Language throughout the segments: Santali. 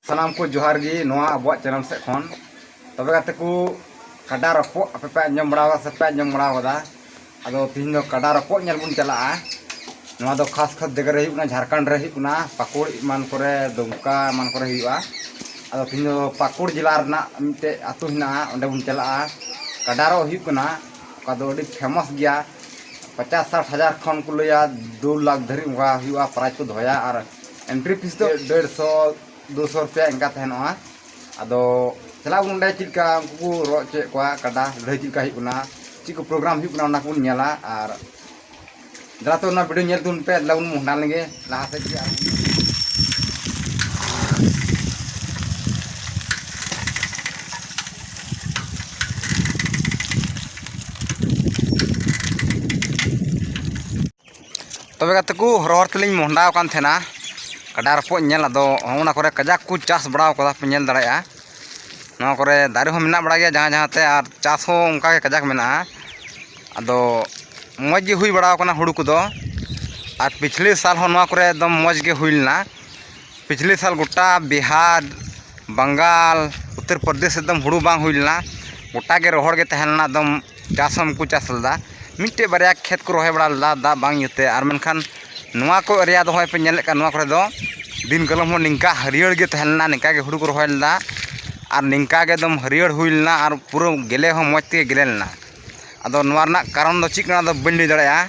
ᱥᱟᱱᱟᱢ ᱠᱚ ᱡᱚᱦᱟᱨ ᱜᱮ ᱱᱚᱣᱟ ᱟᱵᱚᱣᱟᱜ ᱪᱮᱱᱮᱞ ᱥᱮᱫ ᱠᱷᱚᱱ ᱛᱚᱵᱮ ᱜᱟᱛᱮ ᱠᱚ ᱠᱟᱰᱟ ᱨᱚᱯᱚᱜ ᱟᱯᱮ ᱯᱮ ᱟᱸᱡᱚᱢ ᱵᱟᱲᱟ ᱠᱟᱫᱟ ᱥᱮ ᱯᱮ ᱟᱸᱡᱚᱢ ᱵᱟᱲᱟ ᱠᱟᱫᱟ ᱟᱫᱚ ᱛᱤᱦᱤᱧ ᱫᱚ ᱠᱟᱰᱟ ᱨᱚᱯᱚᱜ ᱧᱮᱞ ᱵᱚᱱ ᱪᱟᱞᱟᱜᱼᱟ ᱱᱚᱣᱟ ᱫᱚ ᱠᱷᱟᱥ ᱠᱷᱟᱥ ᱡᱟᱭᱜᱟ ᱨᱮ ᱦᱩᱭᱩᱜ ᱠᱟᱱᱟ ᱡᱷᱟᱲᱠᱷᱚᱸᱰ ᱨᱮ ᱦᱩᱭᱩᱜ ᱠᱟᱱᱟ ᱯᱟᱹᱠᱩᱲ ᱮᱢᱟᱱ ᱠᱚᱨᱮ ᱫᱩᱢᱠᱟ ᱮᱢᱟᱱ ᱠᱚᱨᱮ ᱦᱩᱭᱩᱜᱼᱟ ᱟᱫᱚ ᱛᱤᱦᱤᱧ ᱫᱚ ᱯᱟᱹᱠᱩᱲ ᱡᱮᱞᱟ ᱨᱮᱱᱟᱜ ᱢᱤᱫᱴᱮᱡ ᱟᱹᱛᱩ ᱦᱮᱱᱟᱜᱼᱟ ᱚᱸᱰᱮ ᱵᱚᱱ ᱪᱟᱞᱟᱜᱼᱟ ᱠᱟᱰᱟ ᱨᱚᱜ ᱦᱩᱭᱩᱜ ᱠᱟᱱᱟ ᱚᱠᱟ ᱫᱚ ᱟᱹᱰᱤ ᱯᱷᱮᱢᱟᱥ ᱜᱮᱭᱟ ᱯᱚᱪᱟᱥ ᱥᱟᱴ ᱦᱟᱡᱟᱨ ᱠᱷᱚᱱ ᱠᱚ ᱞᱟᱹᱭᱟ ᱫᱩ ᱞᱟᱠᱷ ᱫᱷᱟᱹᱨᱤᱡ ᱚᱱᱠᱟ ᱦᱩᱭᱩᱜᱼᱟ ᱯᱨᱟᱭᱤᱡᱽ ᱠᱚ ᱫᱚᱦᱚᱭᱟ ᱟᱨ ᱮᱱᱴᱨᱤ ᱯᱷᱤᱥ ᱫᱚ ᱰᱮᱲᱥᱚ ᱫᱩᱥᱚ ᱨᱩᱯᱤᱭᱟ ᱤᱱᱠᱟ ᱛᱟᱦᱮᱱᱚᱜᱼᱟ ᱟᱫᱚ ᱪᱟᱞᱟᱜ ᱟᱵᱚᱱ ᱚᱸᱰᱮ ᱪᱮᱫ ᱞᱮᱠᱟ ᱩᱱᱠᱩ ᱠᱚ ᱨᱚᱜ ᱦᱚᱪᱚᱭᱮᱫ ᱠᱚᱣᱟ ᱠᱟᱰᱟ ᱞᱟᱹᱲᱦᱟᱹᱭ ᱪᱮᱫ ᱞᱮᱠᱟ ᱦᱩᱭᱩᱜ ᱠᱟᱱᱟ ᱪᱮᱫ ᱠᱚ ᱯᱨᱳᱜᱨᱟᱢ ᱦᱩᱭᱩᱜ ᱠᱟᱱᱟ ᱚᱱᱟ ᱠᱚᱵᱚᱱ ᱧᱮᱞᱟ ᱟᱨ ᱫᱮᱞᱟ ᱛᱚ ᱚᱱᱟ ᱵᱷᱤᱰᱤᱭᱳ ᱧᱮᱞ ᱛᱟᱵᱚᱱ ᱯᱮ ᱫᱮᱞᱟ ᱵᱚᱱ ᱢᱚᱦᱰᱟ ᱞᱮᱱᱜᱮ ᱞᱟᱦᱟ ᱥᱮᱫ ᱜᱮ ᱛᱚᱵᱮ ᱜᱟᱛᱮ ᱠᱚ ᱦᱚᱨ ᱦᱚᱨ ᱛᱮᱞᱤᱧ ᱢᱚᱦᱰᱟ ᱟᱠᱟᱱ ᱛᱟᱦᱮᱱᱟ ᱜᱟᱰᱟ ᱨᱚᱯᱚᱜ ᱤᱧ ᱧᱮᱞ ᱟᱫᱚ ᱚᱱᱟ ᱠᱚᱨᱮ ᱠᱟᱡᱟᱠ ᱠᱚ ᱪᱟᱥ ᱵᱟᱲᱟᱣ ᱠᱟᱫᱟ ᱯᱮ ᱧᱮᱞ ᱫᱟᱲᱮᱭᱟᱜᱼᱟ ᱱᱚᱣᱟ ᱠᱚᱨᱮ ᱫᱟᱨᱮ ᱦᱚᱸ ᱢᱮᱱᱟᱜ ᱵᱟᱲᱟᱭ ᱜᱮᱭᱟ ᱡᱟᱦᱟᱸ ᱡᱟᱦᱟᱸ ᱛᱮ ᱟᱨ ᱪᱟᱥ ᱦᱚᱸ ᱚᱱᱠᱟ ᱜᱮ ᱠᱟᱡᱟᱠ ᱢᱮᱱᱟᱜᱼᱟ ᱟᱫᱚ ᱢᱚᱡᱽ ᱜᱮ ᱦᱩᱭ ᱵᱟᱲᱟᱣ ᱠᱟᱱᱟ ᱦᱩᱲᱩ ᱠᱚᱫᱚ ᱟᱨ ᱯᱤᱪᱷᱞᱤ ᱥᱟᱞ ᱦᱚᱸ ᱱᱚᱣᱟ ᱠᱚᱨᱮ ᱮᱠᱫᱚᱢ ᱢᱚᱡᱽ ᱜᱮ ᱦᱩᱭ ᱞᱮᱱᱟ ᱯᱤᱪᱷᱞᱤ ᱥᱟᱞ ᱜᱳᱴᱟ ᱵᱤᱦᱟᱨ ᱵᱟᱝᱜᱟᱞ ᱩᱛᱛᱚᱨ ᱯᱨᱚᱫᱮᱥ ᱮᱠᱫᱚᱢ ᱦᱩᱲᱩ ᱵᱟᱝ ᱦᱩᱭ ᱞᱮᱱᱟ ᱜᱳᱴᱟ ᱜᱮ ᱨᱚᱦᱚᱲ ᱜᱮ ᱛᱟᱦᱮᱸ ᱞᱮᱱᱟ ᱮᱠᱫᱚᱢ ᱪᱟᱥ ᱦᱚᱸ ᱵᱟᱠᱚ ᱪᱟᱥ ᱞᱮᱫᱟ ᱢᱤᱫᱴᱮᱡ ᱵᱟᱨᱭᱟ ᱠᱷᱮᱛ ᱠᱚ ᱨᱚᱦᱚᱭ ᱵᱟᱲᱟ ᱞᱮᱫᱟ ᱫᱟᱜ ᱵᱟᱝ ᱤᱭᱟᱹᱛᱮ ᱟᱨ ᱢᱮᱱᱠᱷᱟᱱ ᱱᱚᱣᱟ ᱠᱚ ᱮᱨᱤᱭᱟ ᱫᱚ ᱦᱚᱸᱜᱼᱚᱭ ᱯᱮ ᱧᱮᱞᱮᱫ ᱠᱟᱱ ᱱᱚᱣᱟ ᱠᱚᱨᱮ ᱫᱚ ᱫᱤᱱ ᱠᱟᱞᱚᱢ ᱦᱚᱸ ᱱᱤᱝᱠᱟ ᱦᱟᱹᱨᱭᱟᱹᱲ ᱜᱮ ᱛᱟᱦᱮᱸ ᱞᱮᱱᱟ ᱱᱤᱝᱠᱟ ᱜᱮ ᱦᱩᱲᱩ ᱠᱚ ᱨᱚᱦᱚᱭ ᱞᱮᱫᱟ ᱟᱨ ᱱᱤᱝᱠᱟ ᱜᱮ ᱮᱠᱫᱚᱢ ᱦᱟᱹᱨᱭᱟᱹᱲ ᱦᱩᱭ ᱞᱮᱱᱟ ᱟᱨ ᱯᱩᱨᱟᱹ ᱜᱮᱞᱮ ᱦᱚᱸ ᱢᱚᱡᱽ ᱛᱮᱜᱮ ᱜᱮᱞᱮ ᱞᱮᱱᱟ ᱟᱫᱚ ᱱᱚᱣᱟ ᱨᱮᱱᱟᱜ ᱠᱟᱨᱚᱱ ᱫᱚ ᱪᱮᱫ ᱠᱟᱱᱟ ᱚᱱᱟ ᱫᱚ ᱵᱟᱹᱧ ᱞᱟᱹᱭ ᱫᱟᱲᱮᱭᱟᱜᱼᱟ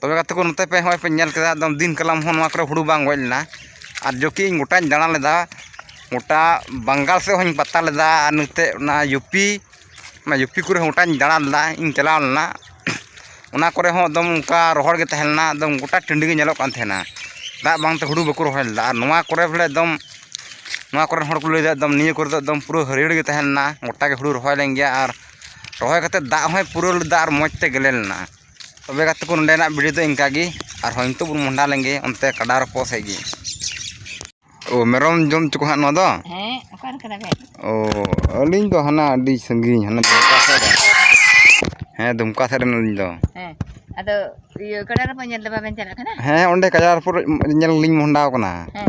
ᱛᱚᱵᱮ ᱜᱟᱛᱮ ᱠᱚ ᱱᱚᱛᱮ ᱯᱮ ᱦᱚᱸᱜᱼᱚᱭ ᱯᱮ ᱧᱮᱞ ᱠᱮᱫᱟ ᱮᱠᱫᱚᱢ ᱫᱤᱱ ᱠᱟᱞᱚᱢ ᱦᱚᱸ ᱱᱚᱣᱟ ᱠᱚᱨᱮ ᱦᱩᱲᱩ ᱵᱟᱝ ᱜᱚᱡ ᱞᱮᱱᱟ ᱟᱨ ᱡᱚᱠᱷᱮᱡ ᱤᱧ ᱜᱚᱴᱟᱧ ᱫᱟᱬᱟ ᱞᱮᱫᱟ ᱜᱚᱴᱟ ᱵᱟᱝᱜᱟᱞ ᱥᱮᱫ ᱦᱚᱸᱧ ᱯᱟᱛᱟ ᱞᱮᱫᱟ ᱟᱨ ᱱᱚᱛᱮ ᱚᱱᱟ ᱤᱭᱩ ᱯᱤ ᱚᱱᱟ ᱤᱭᱩ ᱯᱤ ᱠᱚᱨᱮ ᱦᱚᱸ ᱜᱚᱴᱟᱧ ᱫᱟᱬᱟ ᱞᱮᱫᱟ ᱤᱧ ᱪᱟᱞᱟᱣ ᱞᱮᱱᱟ ᱚᱱᱟ ᱠᱚᱨᱮ ᱦᱚᱸ ᱮᱠᱫᱚᱢ ᱚᱱᱠᱟ ᱨᱚᱦᱚᱲ ᱜᱮ ᱛᱟᱦᱮᱸ ᱞᱮᱱᱟ ᱮᱠᱫᱚᱢ ᱜᱚᱴᱟ ᱴᱟᱺᱰᱤ ᱜᱮ ᱧᱮᱞᱚᱜ ᱠᱟᱱ ᱛᱟᱦᱮᱱᱟ ᱫᱟᱜ ᱵᱟᱝᱛᱮ ᱦᱩᱲᱩ ᱵᱟᱠᱚ ᱨᱚᱦᱚᱭ ᱞᱮᱫᱟ ᱟᱨ ᱱᱚᱣᱟ ᱠᱚᱨᱮ ᱵᱚᱞᱮ ᱮᱠᱫᱚᱢ ᱱᱚᱣᱟ ᱠᱚᱨᱮᱱ ᱦᱚᱲ ᱠᱚ ᱞᱟᱹᱭᱫᱟ ᱮᱠᱫᱚᱢ ᱱᱤᱭᱟᱹ ᱠᱚᱨᱮ ᱫᱚ ᱮᱠᱫᱚᱢ ᱯᱩᱨᱟᱹ ᱦᱟᱹᱨᱭᱟᱹᱲ ᱜᱮ ᱛᱟᱦᱮᱸ ᱞᱮᱱᱟ ᱜᱚᱴᱟᱜᱮ ᱦᱩᱲᱩ ᱨᱚᱦᱚᱭ ᱞᱮᱱ ᱜᱮᱭᱟ ᱟᱨ ᱨᱚᱦᱚᱭ ᱠᱟᱛᱮᱫ ᱫᱟᱜ ᱦᱚᱸᱭ ᱯᱩᱨᱟᱹᱣ ᱞᱮᱫᱟ ᱟᱨ ᱢᱚᱡᱽ ᱛᱮ ᱜᱮᱞᱮ ᱞᱮᱱᱟ ᱛᱚᱵᱮ ᱜᱟᱛᱮ ᱠᱚ ᱱᱚᱰᱮᱱᱟᱜ ᱵᱷᱤᱰᱤᱭᱳ ᱫᱚ ᱤᱱᱠᱟ ᱜᱮ ᱟᱨᱦᱚᱸ ᱱᱤᱛᱚᱜ ᱵᱚᱱ ᱢᱚᱦᱰᱟ ᱞᱮᱱᱜᱮ ᱚᱱᱛᱮ ᱠᱟᱰᱟ ᱨᱚᱯᱚᱜ ᱥᱮᱫ ᱜᱮ ᱚ ᱢᱮᱨᱚᱢ ᱡᱚᱢ ᱦᱚᱪᱚ ᱠᱚ ᱦᱟᱸᱜ ᱱᱚᱣᱟ ᱫᱚ ᱦᱮᱸ ᱚᱠᱟᱨᱮ ᱠᱟᱱᱟ ᱵᱮᱱ ᱚ ᱟᱹᱞᱤᱧ ᱫᱚ ᱦᱟᱱᱟ ᱟᱹᱰᱤ ᱥᱟᱺᱜᱤᱧ ᱦᱟᱱᱟ ᱫᱩᱢᱠᱟ ᱥᱮᱫ ᱨᱮ ᱦᱮᱸ ᱫᱩᱢᱠᱟ ᱥᱮᱫ ᱨᱮᱱ ᱟᱹᱞᱤᱧ ᱫᱚ ᱦᱮᱸ ᱟᱫᱚ ᱤᱭᱟᱹ ᱠᱟᱰᱟ ᱨᱚᱯᱚᱜ ᱧᱮᱞ ᱫᱚ ᱵᱟᱵᱮᱱ ᱪᱟᱞᱟᱜ ᱠᱟᱱᱟ ᱦᱮᱸ ᱚᱸᱰᱮ ᱠᱟᱰᱟ ᱨᱚᱯᱚᱜ ᱧᱮᱞ ᱞᱤᱧ ᱢᱚᱦᱰᱟᱣ ᱠᱟᱱᱟ ᱦᱮᱸ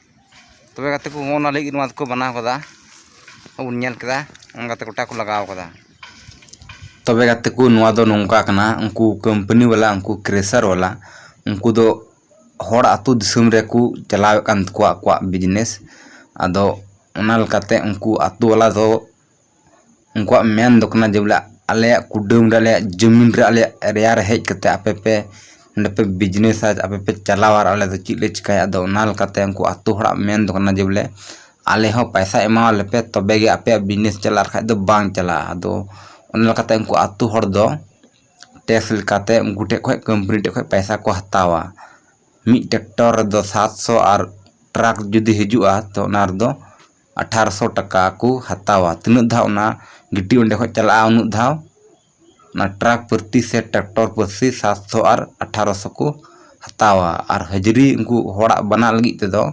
ᱛᱚᱵᱮ ᱜᱟᱛᱮ ᱠᱚ ᱱᱚᱜᱼᱚ ᱱᱚᱣᱟ ᱞᱟᱹᱜᱤᱫ ᱱᱚᱣᱟ ᱫᱚᱠᱚ ᱵᱮᱱᱟᱣ ᱠᱟᱫᱟ ᱟᱵᱚᱱ ᱧᱮᱞ ᱠᱮᱫᱟ ᱚᱱᱠᱟᱛᱮ ᱜᱚᱴᱟ ᱠᱚ ᱞᱟᱜᱟᱣ ᱠᱟᱫᱟ ᱛᱚᱵᱮ ᱜᱟᱛᱮ ᱠᱚ ᱱᱚᱣᱟ ᱫᱚ ᱱᱚᱝᱠᱟ ᱠᱟᱱᱟ ᱩᱱᱠᱩ ᱠᱳᱢᱯᱟᱱᱤ ᱵᱟᱞᱟ ᱩᱱᱠᱩ ᱠᱨᱮᱥᱟᱨ ᱵᱟᱞᱟ ᱩᱱᱠᱩ ᱫᱚ ᱦᱚᱲ ᱟᱹᱛᱩ ᱫᱤᱥᱚᱢ ᱨᱮᱠᱚ ᱪᱟᱞᱟᱣᱮᱫ ᱠᱟᱱ ᱛᱟᱠᱚᱣᱟ ᱟᱠᱚᱣᱟᱜ ᱵᱤᱡᱽᱱᱮᱥ ᱟᱫᱚ ᱚᱱᱟ ᱞᱮᱠᱟᱛᱮ ᱩᱱᱠᱩ ᱟᱹᱛᱩ ᱵᱟᱞᱟ ᱫᱚ ᱩᱱᱠᱩᱣᱟᱜ ᱢᱮᱱ ᱫᱚ ᱠᱟᱱᱟ ᱡᱮ ᱵᱚᱞᱮ ᱟᱞᱮᱭᱟᱜ ᱠᱩᱰᱟᱹᱢ ᱨᱮ ᱟᱞᱮᱭᱟᱜ ᱡᱩᱢᱤᱱ ᱨᱮ ᱟᱞᱮᱭᱟᱜ ᱮᱨᱤᱭᱟ ᱨᱮ ᱦᱮᱡ ᱠᱟᱛᱮᱫ ᱟᱯᱮ ᱯᱮ ᱱᱚᱰᱮ ᱯᱮ ᱵᱤᱡᱽᱱᱮᱥᱟ ᱟᱯᱮ ᱯᱮ ᱪᱟᱞᱟᱣᱟ ᱟᱨ ᱟᱞᱮ ᱫᱚ ᱪᱮᱫ ᱞᱮ ᱪᱤᱠᱟᱹᱭᱟ ᱟᱫᱚ ᱚᱱᱟ ᱞᱮᱠᱟᱛᱮ ᱩᱱᱠᱩ ᱟᱹᱛᱩ ᱦᱚᱲᱟᱜ ᱢᱮᱱ ᱫᱚ ᱠᱟᱱᱟ ᱡᱮ ᱵᱚᱞᱮ ᱟᱞᱮ ᱦᱚᱸ ᱯᱚᱭᱥᱟ ᱮᱢᱟᱣ ᱞᱮ ᱯᱮ ᱛᱚᱵᱮ ᱜᱮ ᱟᱯᱮᱭᱟᱜ ᱵᱤᱡᱽᱱᱮᱥ ᱪᱟᱞᱟᱜᱼᱟ ᱟᱨ ᱵᱟᱠᱷᱟᱡ ᱫᱚ ᱵᱟᱝ ᱪᱟᱞᱟᱜᱼᱟ ᱟᱫᱚ ᱚᱱᱟ ᱞᱮᱠᱟᱛᱮ ᱩᱱᱠᱩ ᱟᱹᱛᱩ ᱦᱚᱲ ᱫᱚ ᱴᱮᱠᱥ ᱞᱮᱠᱟᱛᱮ ᱩᱱᱠᱩ ᱴᱷᱮᱡ ᱠᱷᱚᱡ ᱠᱳᱢᱯᱟᱱᱤ ᱴᱷᱮᱡ ᱠᱷᱚᱡ ᱯᱚᱭᱥᱟ ᱠᱚ ᱦᱟᱛᱟᱣᱟ ᱢᱤᱫ ᱴᱨᱟᱠᱴᱚᱨ ᱨᱮᱫᱚ ᱥᱟᱛ ᱥᱚ ᱟᱨ ᱴᱨᱟᱠ ᱡᱩᱫᱤ ᱦᱤᱡᱩᱜᱼᱟ ᱛᱳ ᱚᱱᱟ ᱨᱮᱫᱚ ᱟᱴᱷᱟᱨᱚᱥᱚ ᱴᱟᱠᱟ ᱠᱚ ᱦᱟᱛᱟᱣᱟ ᱛᱤᱱᱟᱹᱜ ᱫᱷᱟᱣ ᱚᱱᱟ ᱜᱤᱴᱤ ᱚᱸᱰᱮ ᱠᱷᱚᱱ ᱪᱟᱞᱟᱜᱼᱟ ᱩᱱᱟᱹᱜ ᱫᱷᱟᱣ ᱚᱱᱟ ᱴᱨᱟᱠ ᱯᱨᱚᱛᱤ ᱥᱮ ᱴᱨᱟᱠᱴᱚᱨ ᱯᱨᱚᱛᱤ ᱥᱟᱛᱥᱚ ᱟᱨ ᱟᱴᱷᱟᱨᱚᱥᱚ ᱠᱚ ᱦᱟᱛᱟᱣᱟ ᱟᱨ ᱦᱟᱹᱡᱽᱨᱤ ᱩᱱᱠᱩ ᱦᱚᱲᱟᱜ ᱵᱟᱱᱟ ᱞᱟᱹᱜᱤᱫ ᱛᱮᱫᱚ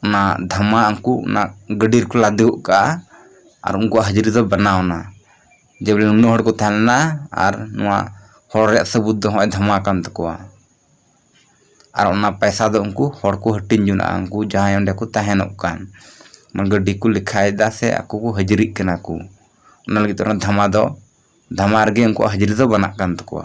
ᱚᱱᱟ ᱫᱷᱟᱢᱟ ᱩᱱᱠᱩ ᱚᱱᱟ ᱜᱟᱹᱰᱤ ᱨᱮᱠᱚ ᱞᱟᱫᱮ ᱜᱚᱫ ᱠᱟᱜᱼᱟ ᱟᱨ ᱩᱱᱠᱩᱣᱟᱜ ᱦᱟᱹᱡᱽᱨᱤ ᱫᱚ ᱵᱮᱱᱟᱣ ᱮᱱᱟ ᱡᱮ ᱵᱚᱞᱮ ᱱᱩᱱᱟᱹᱜ ᱦᱚᱲ ᱠᱚ ᱛᱟᱦᱮᱸ ᱞᱮᱱᱟ ᱟᱨ ᱱᱚᱣᱟ ᱦᱚᱲ ᱨᱮᱭᱟᱜ ᱥᱟᱹᱵᱩᱫ ᱫᱚ ᱱᱚᱜᱼᱚᱭ ᱫᱷᱟᱢᱟ ᱠᱟᱱ ᱛᱟᱠᱚᱣᱟ ᱟᱨ ᱚᱱᱟ ᱯᱟᱭᱥᱟ ᱫᱚ ᱩᱱᱠᱩ ᱦᱚᱲ ᱠᱚ ᱦᱟᱹᱴᱤᱧ ᱡᱚᱱᱟᱜᱼᱟ ᱩᱱᱠᱩ ᱡᱟᱦᱟᱸᱭ ᱚᱸᱰᱮ ᱠᱚ ᱛᱟᱦᱮᱱᱚᱜ ᱠᱟᱱ ᱢᱟᱱᱮ ᱜᱟᱹᱰᱤ ᱠᱚ ᱞᱮᱠᱷᱟᱭᱮᱫᱟ ᱥᱮ ᱟᱠᱚ ᱠᱚ ᱦᱟᱹᱡᱽᱨᱤᱜ ᱠᱟᱱᱟ ᱠᱚ ᱚᱱᱟ ᱞᱟᱹᱜᱤᱫ ᱛᱮ ᱚᱱᱟ ᱫᱷᱟᱢᱟ ᱫᱚ ᱫᱷᱟᱢᱟ ᱨᱮᱜᱮ ᱩᱱᱠᱩᱣᱟᱜ ᱦᱟᱹᱡᱽᱨᱤ ᱫᱚ ᱵᱮᱱᱟᱜ ᱠᱟᱱ ᱛᱟᱠᱚᱣᱟ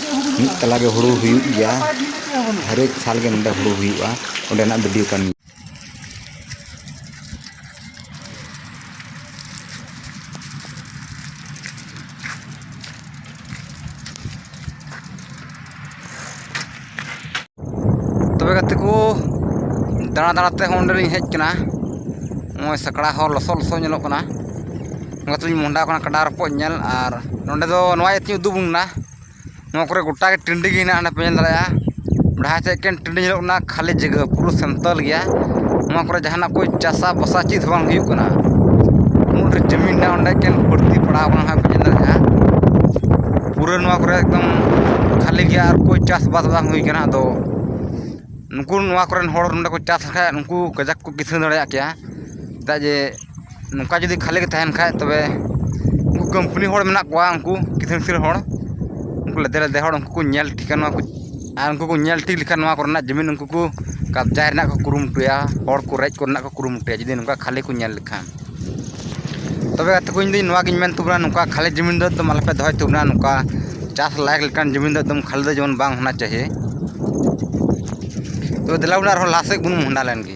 ᱢᱤᱫ ᱛᱟᱞᱟ ᱜᱮ ᱦᱩᱲᱩ ᱦᱩᱭᱩᱜ ᱜᱮᱭᱟ ᱦᱟᱨᱮᱠ ᱥᱟᱞ ᱜᱮ ᱱᱚᱰᱮ ᱦᱩᱲᱩ ᱦᱩᱭᱩᱜᱼᱟ ᱚᱸᱰᱮᱱᱟᱜ ᱵᱷᱤᱰᱤᱭᱳ ᱠᱟᱱ ᱜᱮᱭᱟ ᱛᱚᱵᱮ ᱜᱟᱛᱮ ᱠᱚ ᱫᱟᱬᱟ ᱫᱟᱬᱟ ᱛᱮ ᱦᱚᱸ ᱱᱚᱰᱮ ᱞᱤᱧ ᱦᱮᱡ ᱠᱟᱱᱟ ᱱᱚᱜᱼᱚᱸᱭ ᱥᱟᱸᱠᱲᱟ ᱦᱚᱸ ᱞᱚᱥᱚᱫ ᱞᱚᱥᱚᱫ ᱧᱮᱞᱚᱜ ᱠᱟᱱᱟ ᱚᱱᱟ ᱛᱮᱞᱤᱧ ᱢᱚᱦᱰᱟᱣ ᱠᱟᱱᱟ ᱠᱟᱰᱟ ᱨᱚᱠᱚᱡ ᱧᱮᱞ ᱟᱨ ᱱᱚᱰᱮ ᱫᱚ ᱱᱚᱣᱟ ᱤᱭᱟᱹ ᱛᱮᱞᱤᱧ ᱩᱫᱩᱜ ᱟᱵᱚᱱ ᱠᱟᱱᱟ ᱱᱚᱣᱟ ᱠᱚᱨᱮᱜ ᱜᱚᱴᱟ ᱜᱮ ᱴᱟᱺᱰᱤ ᱜᱮ ᱢᱮᱱᱟᱜᱼᱟ ᱚᱱᱟ ᱯᱮ ᱧᱮᱞ ᱫᱟᱲᱮᱭᱟᱜᱼᱟ ᱡᱟᱦᱟᱸ ᱥᱮᱫ ᱮᱠᱮᱱ ᱴᱟᱺᱰᱤ ᱧᱮᱞᱚᱜ ᱠᱟᱱᱟ ᱠᱷᱟᱹᱞᱤ ᱡᱟᱭᱜᱟ ᱯᱩᱨᱟᱹ ᱥᱟᱱᱛᱟᱲ ᱜᱮᱭᱟ ᱱᱚᱣᱟ ᱠᱚᱨᱮᱜ ᱡᱟᱦᱟᱱᱟᱜ ᱠᱚ ᱪᱟᱥᱟ ᱵᱟᱥᱟ ᱪᱮᱫ ᱦᱚᱸ ᱵᱟᱝ ᱦᱩᱭᱩᱜ ᱠᱟᱱᱟ ᱩᱱᱟᱹᱜ ᱰᱷᱮᱨ ᱡᱚᱢᱤ ᱢᱮᱱᱟᱜᱼᱟ ᱚᱸᱰᱮ ᱮᱠᱮᱱ ᱵᱟᱹᱲᱛᱤ ᱯᱟᱲᱟᱣ ᱠᱟᱱᱟ ᱦᱟᱸᱜ ᱵᱮᱱ ᱧᱮᱞ ᱫᱟᱲᱮᱭᱟᱜᱼᱟ ᱯᱩᱨᱟᱹ ᱱᱚᱣᱟ ᱠᱚᱨᱮ ᱮᱠᱫᱚᱢ ᱠᱷᱟᱹᱞᱤ ᱜᱮᱭᱟ ᱟᱨ ᱚᱠᱚᱭ ᱪᱟᱥᱵᱟᱥ ᱵᱟᱝ ᱦᱩᱭ ᱠᱟᱱᱟ ᱟᱫᱚ ᱱᱩᱠᱩ ᱱᱚᱣᱟ ᱠᱚᱨᱮᱱ ᱦᱚᱲ ᱱᱚᱰᱮ ᱠᱚ ᱪᱟᱥ ᱞᱮᱠᱷᱟᱡ ᱱᱩᱠᱩ ᱠᱟᱡᱟᱠ ᱠᱚ ᱠᱤᱥᱟᱹᱬ ᱫᱟᱲᱮᱭᱟᱜ ᱠᱮᱭᱟ ᱪᱮᱫᱟᱜ ᱡᱮ ᱱᱚᱝᱠᱟ ᱡᱩᱫᱤ ᱠᱷᱟᱹᱞᱤ ᱜᱮ ᱛᱟᱦᱮᱱ ᱠᱷᱟᱡ ᱛᱚᱵᱮ ᱩᱱᱠᱩ ᱠᱚᱢᱯᱟᱹᱱᱤ ᱦᱚᱲ ᱢᱮᱱᱟᱜ ᱠᱚᱣᱟ ᱩᱱᱠᱩ ᱠᱤᱥᱟᱹᱬ ᱠᱤᱥᱟᱹᱬ ᱦᱚᱲ ᱩᱱᱠᱩ ᱞᱮᱫᱮ ᱞᱮᱫᱮ ᱦᱚᱲ ᱩᱱᱠᱩ ᱠᱚ ᱧᱮᱞ ᱴᱷᱤᱠᱟ ᱱᱚᱣᱟ ᱠᱚ ᱟᱨ ᱩᱱᱠᱩ ᱠᱚ ᱧᱮᱞ ᱴᱷᱤᱠ ᱞᱮᱠᱷᱟᱱ ᱱᱚᱣᱟ ᱠᱚᱨᱮᱱᱟᱜ ᱡᱩᱢᱤᱱ ᱩᱱᱠᱩ ᱠᱚ ᱠᱟᱵᱽᱡᱟ ᱨᱮᱱᱟᱜ ᱠᱚ ᱠᱩᱨᱩᱢᱩᱴᱩᱭᱟ ᱦᱚᱲ ᱠᱚ ᱨᱮᱡ ᱠᱚᱨᱮᱱᱟᱜ ᱠᱚ ᱠᱩᱨᱩᱢᱩᱴᱩᱭᱟ ᱡᱩᱫᱤ ᱱᱚᱝᱠᱟ ᱠᱷᱟᱹᱞᱤ ᱠᱚ ᱧᱮᱞ ᱞᱮᱠᱷᱟᱱ ᱛᱚᱵᱮ ᱜᱟᱛᱮ ᱠᱚ ᱤᱧᱫᱚ ᱱᱚᱣᱟᱜᱤᱧ ᱢᱮᱱ ᱛᱟᱵᱚᱱᱟ ᱱᱚᱝᱠᱟ ᱠᱷᱟᱹᱞᱤ ᱡᱚᱢᱤᱱ ᱫᱚ ᱮᱠᱫᱚᱢ ᱟᱞᱚᱯᱮ ᱫᱚᱦᱚᱭ ᱛᱟᱵᱚᱱᱟ ᱱᱚᱝᱠᱟ ᱪᱟᱥ ᱞᱟᱭᱮᱠ ᱞᱮᱠᱟᱱ ᱡᱚᱢᱤᱱ ᱫᱚ ᱮᱠᱫᱚᱢ ᱠᱷᱟᱹᱞᱤ ᱫᱚ ᱡᱮᱢᱚᱱ ᱵᱟᱝ ᱦᱳᱱᱟ ᱪᱟᱦᱤᱭᱮ ᱛᱚ ᱫᱮᱞᱟ ᱵᱚᱞᱮ ᱟᱨᱦᱚᱸ ᱞᱟᱦᱟ ᱥᱮᱫ ᱵᱚᱱ ᱢᱚᱦᱰᱟ ᱞᱮᱱ ᱜᱮ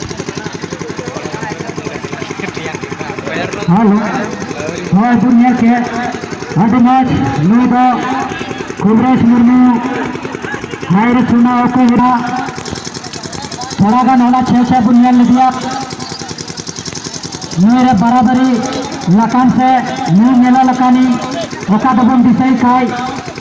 ᱦᱮᱞᱳ ᱦᱳᱭ ᱵᱚᱱ ᱧᱮᱞ ᱠᱮᱫ ᱟᱹᱰᱤ ᱢᱚᱡᱽ ᱱᱩᱭ ᱫᱚ ᱠᱩᱵᱨᱮᱥ ᱢᱩᱨᱢᱩ ᱦᱟᱭᱨ ᱥᱩᱱᱟ ᱚᱠᱚᱭ ᱦᱮᱱᱟᱜ ᱛᱷᱚᱲᱟ ᱜᱟᱱ ᱚᱱᱟ ᱪᱷᱮ ᱪᱷᱮ ᱵᱚᱱ ᱧᱮᱞ ᱞᱮᱫᱮᱭᱟ ᱱᱩᱭ ᱨᱮ ᱵᱟᱨᱟᱵᱟᱨᱤ ᱞᱟᱠᱟᱱ ᱥᱮ ᱱᱩᱭ ᱧᱮᱞᱚᱜ ᱞᱮᱠᱟᱱᱤᱡ ᱚᱠᱟ ᱫᱚᱵᱚᱱ ᱫᱤᱥᱟᱹᱭ ᱠᱷᱟᱡ